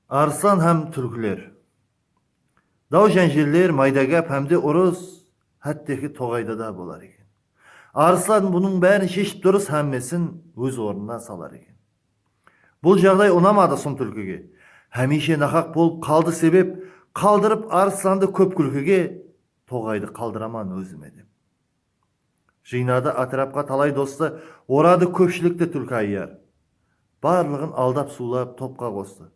Arslan hám túrkiler. Daw-jánjeller, mayda gáp hám de urıs hátteki toǵayda da bolar eken. Arslan bunıń bárin sheship durıs hámmesin óz ornına salar eken. Bul jaǵday unamadı Sum túlkige. Hámiyshe naqaq bolıp qaldı sebep qaldırıp Arslandı kóp kúlkige, toǵaydı qaldıraman ózime dep. Jıynadı átirapqa talay dostı, Oradı kópshilikti túlki ayyar. Barlıǵın aldap-suwlap topqa qostı,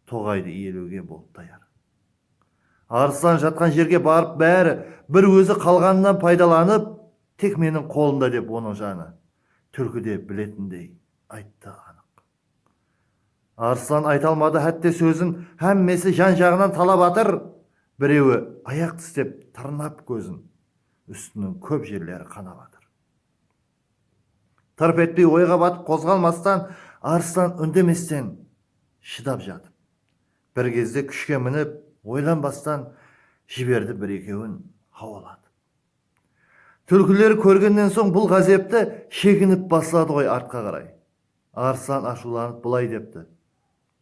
Toǵaydı iyelewge bolıp tayar. Arıslan jatqan jerge barıp bári bir ózi qalǵanınan paydalanıp, Tek meniń qolımda dep onıń janı túlkide biletindey ayttı anıq. Arslan ayta almadı hátte sózin, hámmesi jan-jaǵınan talap atır, birewi ayaq tislep tırnap kózin, ústiniń kóp jerleri qanap atır. Tırp etpey oyǵa batıp qozǵalmastan Arslan úndemesten shıdap jatıp, bir gezde kúshke minip oylanbastan jiberdi bir-ekewin hawalatıp. Túlkiler kórgennen soń bul ǵázepti sheginip basladı ǵoy artqa qaray. Arslan ashıwlanıp bılay depti,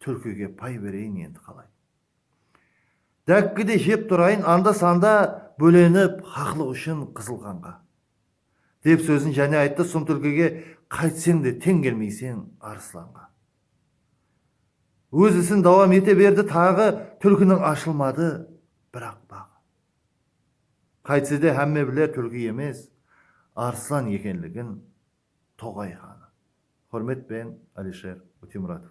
Túlkige pay bereyin endi qalay? Dákki de jep turayın, anda-sanda bólenip haqlıq ushın qızıl qanǵa, dep sózin jáne ayttı Sum túlkige qaytseń de teń kelmeyseń Arıslanǵa. Óz isin dawam ete berdi taǵı túlkiniń ashılmadı biraq baǵı. Qaytsede hámme biler túlki emes, Arıslan ekenligin Toǵay xanı. Húrmet penen Alisher Útemuratov.